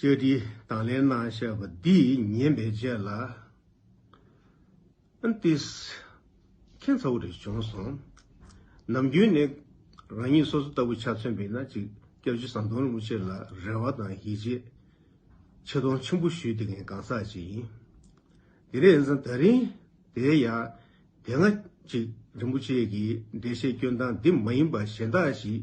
བཅས་བྲིས་དང་ལེན་གནང་བཤད་པ་འདི་ཉན་པའི་རྗེས་ལ། ཨན་ཏིས། ཁྱེད་ཚ་བོ་རེ་བྱུང་སོང། ནམ་རྒྱུན་ནི་རང་ཉིད་སོ་སོ་ལྟ་བུ་ཆ་མཚོན་པའི་ན་ཅིག་སྐྱབས་རྗེ་ཟམ་གདོང་རིན་པོ་ཆེ་ལ་རེ་བ་དང་ཡིད་ཆེས་ཆེ་མཐོང་ཆེན་པོ་ཞུས་དེ་གང་ཟག་ཅིག་ཡིན། དེ་རེས་འཛིན་ད་རིང་དེའི་ཡ་དེ་ང་ཅིག་རིན་པོ་ཆེ་གི་འགྲེལ་བཤད་སྐྱོན་སྟངས་འདི་མ་ཡིན་པ་གཞན་དག་ཞིག་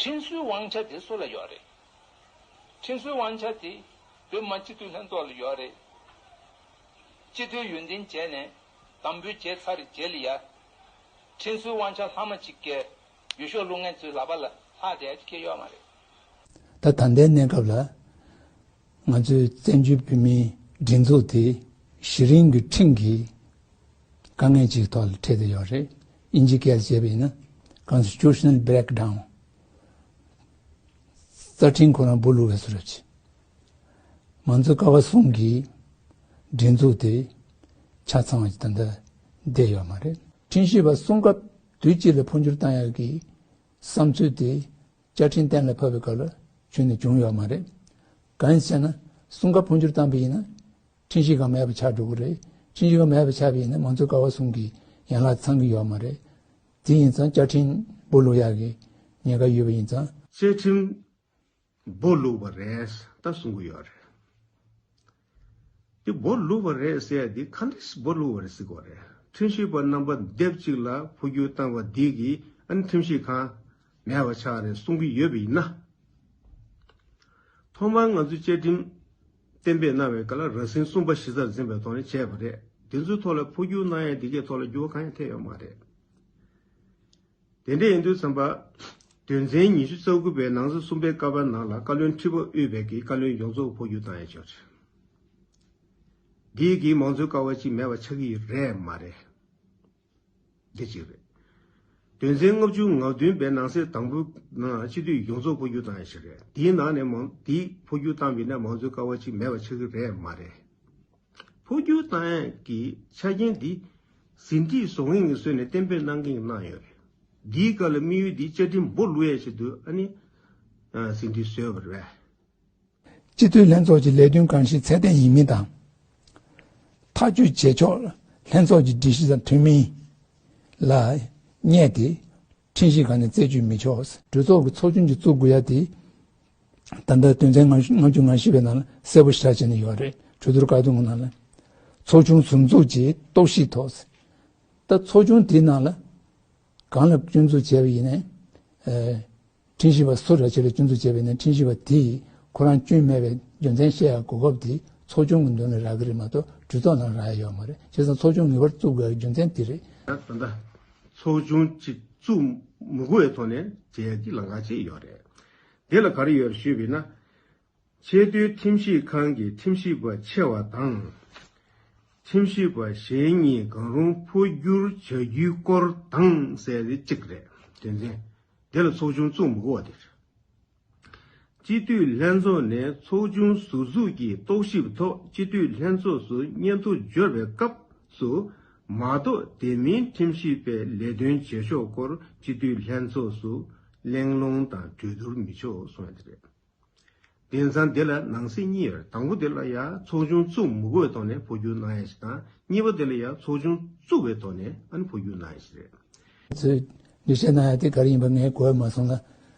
ཁྲིན་ཧྲུའི་དབང་ཆ་དེ་སུ་ལ་ཡོད་རེད། ཁྲིན་ཧྲུའི་དབང་ཆ་དེ་བོད་མ་སྤྱི་འཐུས་ལྷན་ཚོགས་ལ་ཡོད་རེད། སྤྱི་འཐུས་ཡོན་ཏན་བྱས་ནས་དམ་འབུལ་བྱས་ཚར་རྗེས་ལ་ཡ། ཁྲིན་ཧྲུའི་དབང་ཆ་ལྷག་མ་གཅིག་སྐལ་ཡུལ་ཤོག་ལུག་ངན་ཚོའི་ལག་པ་ལ་ལྷག་བསྡད་ཀྱི་ཡོད་མ་རེད། ད་ད་ལྟའི་གནས་སྐབས་ལ། ང་ཚོའི་བཙན་བྱོལ་བོད་མིའི་སྒྲིག་འཛུགས་དེ་གཞི་རིམ་གྱི་ཁྲིམས་ཀྱི་དཀའ་ངལ་ཅིག་ཐོག་ལ་འཕྲད་དུ་ཡོད་རེད། དབྱིན་ཇི་སྐད་ལ་བྱས་པ་ཡིན་ན Constitutional Breakdown། རྩ་ཁྲིམས་ཁོ་རང་བུ་ལུག་བས་སུ་རུབ་ཅིང། ང་ཚོ་ཀ་བ་གསུམ་གྱི་སྒྲིག་འཛུགས་དེ་ཆ་ཚང་བ་ཞིག་ད་ལྟ་བསྡད་ཡོད་མ་རེད། ཁྲིམས་ཞིབ་པ་གསུམ་སྐབས་དུས་གཅིག་ལ་འཕོ་འགྱུར་བཏང་ཡོད་ཀྱི་བསམ་ཚུལ་དེ་བཅའ་ཁྲིམས་གཏན་ལ་ཕབ་པའི་སྐབས་ལ་ཆུད་ནས་བྱུང་ཡོད་མ་རེད། གང་ཞེ་ན། སྲུང་སྐར་འཕོ་འགྱུར་བཏང་པ་ཡིན་ན། འཕྲིན་གཞི་གང་མེད་པར་ཆགས་འགྲོ་གི་རེད། འཕྲིན་གཞི་གང་མེད་པར་ཆགས་པ་ཡིན་ན་མང་གཙོའི་ཀ་བ་སྲུང་གི་ཡན་ལག་ཚང་གི་ཡོད་མ་རེད། དེ་ཡིན་ཙང་བཅའ་ཁྲིམས་སྦོ་ལུག་ཡག་གི་ཉེན་ཁ་ཡོད་པ་ཡིན་ཙང། བཅའ་ཁྲིམས་སྦོ་ལུག་པ་རེད་ད་གསུང་གི་ཡོད་རེད། དེ་སྦོ་ལུག་བ་རེད་ཟེར་དེ་ཁ་འདྲིས་སྦོ་ལུག་བ་རེད་ཟེར་གོ་རེད་ཁྲིམས་ཞིབ་པ་རྣམ་པ་སྡེབ་གཅིག་ལ་འཕོ་འགྱུར་བཏང་བ་འདི་གི་ཨ་ནི་ཁྲིམས་ཞིབ་ཁང་མེད་པ་ཆགས་རེད་གསུང་གི་ཡོད་པ་ཡིན་ན། ཐོག་མར་ང་ཚོའི་བཅའ་ཁྲིམས་གཏན་འབེབས་གནང་བའི་སྐབས་ལ་རགས་ཟིན་གསུམ་པ་གཞི་རྩར་འཛིན་པའི་ཐོག་ནས་བྱས་པ་རེད་དེ་ཚོའི་ཐོག་ལ་འཕོ་འགྱུར་གནང་ཡང་དེ་གའི་ཐོག་ལ་འགྱུར་བ་གང་ཡང་ཐེབས་ཡོད་མ་རེད། དེ་འབྲེལ་ཨིན་དུ་ཚན་པ། དོན་ཚན་ཉི་ཤུ་རྩ་དགུ་པའི་ནང་གཟི་གསུམ་པའི་ཀ་བ་ནང་ལ་བཀའ་བློན་ཁྲི་པ་དབུས་བར་གྱི་བཀའ་བློན་ཡོངས་རྫོགས་བོ་ཡུ་དང་ཡང་ཆོག་ཆོག་འདིའི་གིས་མང་གཙོའི་ཀ་བ་ཅིག་མེད་པ་ཆགས་ཀྱི་རེད་མ་རེད། འདི་གཅིག་རེད། དོན་ཚན་ལྔ་བཅུ་ང་བདུན་པའི་ནང་གསེས་དང་པོའི་ནང་སྤྱི་འཐུས་ཡོངས་རྫོགས་བོ་ཡུ་དང་ཡང་ཆོག་རེད་འདིའི་ནང་ནས་མང་འདིས་བོ་ཡུ་བཏང་བས་ན་མང་གཙོའི་ཀ་བ་ཅིག་མེད་པ་ཆགས་ཀྱི་རེད་མ་རེད། ཕོ་རྒྱུད་ཏང་ཡོན་གྱི་ཆ་རྐྱེན་འདི་ཟིན་བྲིས་བཟོ་མཁན་གྱིས་བཟོས་ནས་གཏན་འབེབས་གནང་གིན་གནང་ཡོད་རེད། འདིའི་སྐབས་ལ་དམིགས་ཡུལ་འདི་བཅའ་ཁྲིམས་འབོ་ལུ་ཡས་ཆེད་དུ་ཨ་ནི་ཟིན་བྲིས་བཟོས་པ་རེད། སྤྱི་འཐུས་ལྷན་ཚོགས་ཀྱི་ལས་དོན་གང་ཞིག་ཚད་ལྡན་ཡིན་མིན་དང། ཐག་གཅོད་བྱེད་ཕྱོགས་ལྷན་ཚོགས་ཀྱི་སྒྲིག་གཞི་དང་མཐུན་མིན་ལ་བསྙད་དེ། ཁྲིམས་གཞི་གང་ནས་རྩད་གཅོད་མི་ཆོག། གྲོས་ཚོགས་ཀྱི་ཚོགས་ཆུང་གཅིག་བཙུགས་དགོས་ཡ་དེ། ད་ལྟ་དོན་ཚན་ང་ང་བཅུ་ང་བཞི་པའི་ནང་ལ་གསལ་པོ་ཞར་བྱས་ནས་ཡོད་རེད་གྲོས་བསྡུར་བཀག་སྡོམ་གི་ནང་ལ། ཚོགས་ཆུང་ཟུར་འཛུགས་ཀྱིས་རྟོག་ཞིབ་ཐོག། ད་ཚོགས་ཆུང་དེའི་ནང་ལ། གང་ལ་སྐྱོན་འཛུགས་བྱས་པ་ཡིན་ནའི། ཁྲིམས་ཞིབ་པ་སུ་ར་ཆེ་ལ་སྐྱོན་འཛུགས་བྱས་པ་ཡིན་ནའི་ཁྲིམས་ཞིབ་པ་དེས་ཁོ་རང་སྐྱོན་མེད་པའི་རྒྱུ་མཚན་བཤད་ཡ་གོ་སྐབས་དེ་ཚོགས་ཆུང་གི་མདུན་ལ་རག་གི་རེད་མ་གཏོགས་གྲོས་ཚོགས་ནང་རག་ཡ་ཡོད་མ་རེད་བྱས་ཙང་ཚོགས་ཆུང་ངེས་པར་བཙུགས་དགོས་ཡ་རྒྱུ་མཚན་དེ་རེད། ད་ད། ཚོགས་ཆུང་གཅིག་བཙུགས་མུ་དགོའི་ཐོག་ནས་མཇལ་ཀྱི་ལང་ཀ་བྱས་ཡོད་རེད། དེ་ལ་ག་རེ་ཡོད་ཞུས་པས་ན། ཆེས་མཐོའི་ཁྲིམས་ཞིབ་ཁང་གི་ཁྲིམས་ཞིབ་པ་ཆེ་བ་དང། ཁྲིམས་ཞིབ་པ་གཞན་གཉིས་གང་རུང་འཕོ་བསྒྱུར་བྱ་རྒྱུའི་སྐོར་དང་གསལ་བའི་གཅིག་རེད་དོན་ཚན་དེ་ལ་ཚོགས་ཆུང་བཙུགས་མུ་དགོ་བ་དེ་རེད། སྤྱི་འཐུས་ལྷན་ཚོགས་ནས་ཚོགས་ཆུང་ཟུར་འཛུགས་ཀྱི་རྟོག་ཞིབ་ཐོག་སྤྱི་འཐུས་ལྷན་ཚོགས་སུ་སྙན་ཐོ་འབྱོར་བའི་སྐབས་སུ་མ་གཏོགས་དེ་མིན་ཁྲིམས་ཞིབ་པའི་ལས་དོན་བྱེད་ཕྱོགས་སྐོར་སྤྱི་འཐུས་ལྷན་ཚོགས་སུ་གླེང་སློང་དང་གྲོས་བསྡུར་མི་ཆོག་གསུངས་ཡོད་པ་རེད། དེང་སང་དེ་ལ་ནང་སྲིད་གཉིས་ཡོད་དང་པོ་དེ་ལ་ཡང་ཚོགས་ཆུང་བཙུགས་མུ་གོའི་ཐོག་ནས་འཕོ་འགྱུར་གནང་ཡ་ཞིག་དང་གཉིས་པ་དེ་ལ་ཡང་ཚོགས་ཆུང་བཙུགས་པའི་ཐོག་ནས་འཕོ་འགྱུར་གནང་ཡ་ཞིག་རེད། ཚོས་འདུ་བྱེད་གནང་ཡ་དེ་ག་རེ་ཡིན་པ་ངས་གོ་ཡ་མ་སོང་ལ།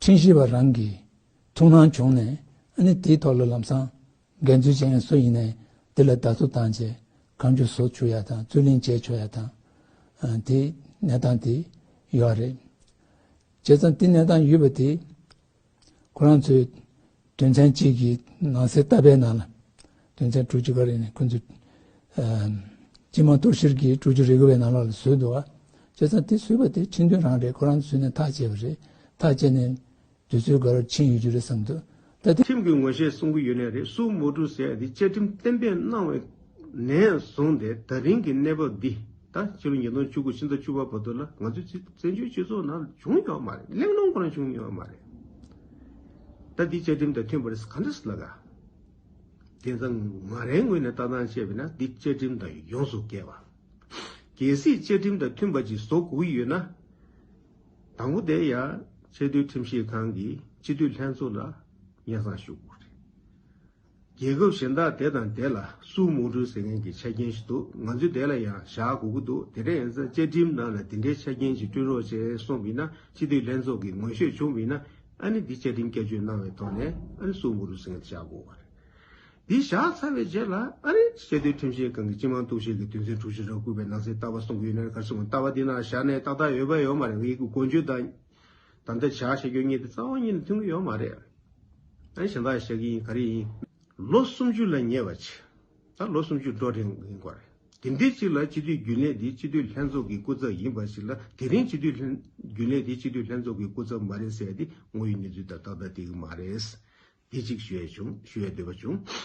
ཁྲིན་ཞི་བ་རང་གིས་ཐུགས་སྣང་བྱུང་ནས་ཨ་ནི་དེའི་ཐོག་ལ་ལམ་སང་འགན་འཛོལ་ཅན་སུ་ཡིན་ནས་དེ་ལ་བདག་བསུ་དང་བཅས་གང་རྒྱུ་བཟོ་ཆུག་ཡ་དང་རྩོད་གླེང་བྱས་ཆོག་ཡ་དང། དེ་གནས་སྟངས་དེ་ཡོད་རེད། བྱས་ཙང་དེ་གནས་སྟངས་ཡོད་པ་དེ་ཁོ་རང་ཚོས་དོན་ཚན་གཅིག་གི་ནང་གསལ་བཏབ་པའི་ནང་ལ། དོན་ཚན་དྲུག་ཅུ་ག་རེ་ནས་ཁོ་ཚོས། སྤྱི་དམངས་གཏོར་བཤེར་གྱི་དྲུག་ཅུ་རེ་དགུ་བའི་ནང་ལོགས་ལ་བཟོས་འདུག་བ། བྱས་ཙང་དེ་བཟོས་པ་དེ་ཁྲིམས་མཐུན་རང་རེད་ཁོ་རང་ཚོས་ནས་ཐག་བཅད་པ་རེད། ཐག་བཅད་ནས་དུས་ཚོད་འགའ་རེར་ཕྱིན་ཡོད་རྒྱུ་རེད་བསམ་འདུག་ད་དེ། ཁྲིམས་ཀྱི་ངོ་ཤེས་གསུང་གི་ཡོད་ནི་རེད་སུ་མོ་ཀྲུའུ་ཟེར་དེ་བཅའ་ཁྲིམས་གཏན་འབེབས་གནང་བའི་ནས་བཟུང་སྟེ་ད་རིང་གི་གནས་བབ་འདི། ད་ཕྱི་ལོ་ཉིས་སྟོང་བཅུ་དགུ་ཕྱི་ཟླ་བཅུ་བ་བར་དུ་ལ་ང་ཚོའི་བཙན་བྱོལ་སྤྱི་ཚོགས་ནང་བྱུང་མྱོང་བ་མ་རེད་གླེང་སློང་གང་བྱུང་མྱོང་བ་མ་རེད། ད་འདི་བཅའ་ཁྲིམས་དང་མཐུན་པ་རེད་ག་འདྲ་ཟེར་ལ་ག། དེ་ད་ང་རའི་ངོས་ནས་ལྟ་སྟངས་བཤད་པས་ན་འདི་བཅའ་ཁྲིམས་དང་ཡོངས་སུ་འགལ་བ། གལ་སྲིད་བཅའ་ཁྲིམས་དང་མཐུན་པ་ཅིག་བཟོ་དགོས་ཀྱི་ཡོད་ན། དང་པོ་དེ་ཡང་ཆེས་མཐོའི་ཁྲིམས་ཞིབ་ཁང་གི་སྤྱི་འཐུས་ལྷན་ཚོགས་ལ་སྙན་གསང་ཞུ་དགོས་རེད། རྒྱལ་ཁབ་གཞན་དག་དེ་དང་དེ་ལ་སུའུ་མུའུ་ཀྲུའུ་ཟེར་མཁན་གྱི་ཆ་རྐྱེན་ཞིག་འདུག་ང་ཚོས་དེ་ལ་ཡང་བཞག་དགོས་ཀྱི་འདུག་དེ་འདྲ་ཡིན་ཙང་བཅའ་ཁྲིམས་ནང་ལ་དེ་འདྲའི་ཆ་རྐྱེན་ཞིག་བསྐྲུན་རོགས་བྱས་གསུངས་མིན་ན་སྤྱི་འཐུས་ལྷན་ཚོགས་ཀྱི་ངོས་ཤོད་བྱུང་མིན་ན་ཨ་ནི་འདི་བཅའ་ཁྲིམས་བསྐྱར་བཅོས་གནང་བའི་ཐོག་ནས་ཨ་ནི་སུའུ་མུའུ་ཀྲུའུ་ཟེར་མཁན་དེ་བཞག་དགོས་པ་རེད། འདི་བཞག་ཚར་བའི་རྗེས་ལ་ཨ་རི་སྤྱི་མཐུན་ཁྲིམས་བཤེར་ཁང་གི་སྤྱི་དམངས་གཏུག་བཤེར་གྱི་དུས་མཚོན་དྲུག་བཞི་རག་བསྐུལ་བའི་ནང་གསེས་ལྟ་བ་གསུང་གི་ཡོད་ན་གར་སོང་ལྟ་བ་འདི་ནང་བཞག་ནས་ཏག་ཏག་ཡོད་པ་ཡོད་མ་རེད་ངེད་ཀྱི་མགོ་མཇུག་དང། དམ་བཅའ་བྱ་ཞེས་ཁྱོད་གཉིས་དེ་རྩ་བ་ཉིད་ནས་མཐུན་གྱི་ཡོད་མ་རེད། ཨ་ཞེ་འདག་ཞེས་ཀྱི་ཡིན་ག་རེ་ཡིན། ལོ་སུམ་ཅུ་ལ་ཉེ་བ་ཆེ། ད་ལོ་སུམ་ཅུ་འགྲོ་རན་ཡིན་སྐོར་རེད། དེ་འདྲའི་ཅིག་ལ་སྤྱི་འཐུས་རྒྱུན་ལས་དེ་སྤྱི་འཐུས་ལྷན་ཚོགས་ཀྱི་སྐུ་ཚབ་ཡིན་པ་ཞིག་ལ་དེ་རིང་སྤྱི་འཐུས་རྒྱུན་ལས་དེ་སྤྱི་འཐུས་ལྷན་ཚོགས་ཀྱི་སྐུ་ཚབ་མ་རེད་ཟེར་བ་དེ་ངོ་ཡི་གནས་ཚུལ་དང་ཏག་ཏག་དེ་གི་མ་རེད། དེ་ཅིག་ཞུ་ཡས་བྱུང་ཞུ་ཡས་འདོད་པ་བྱུང།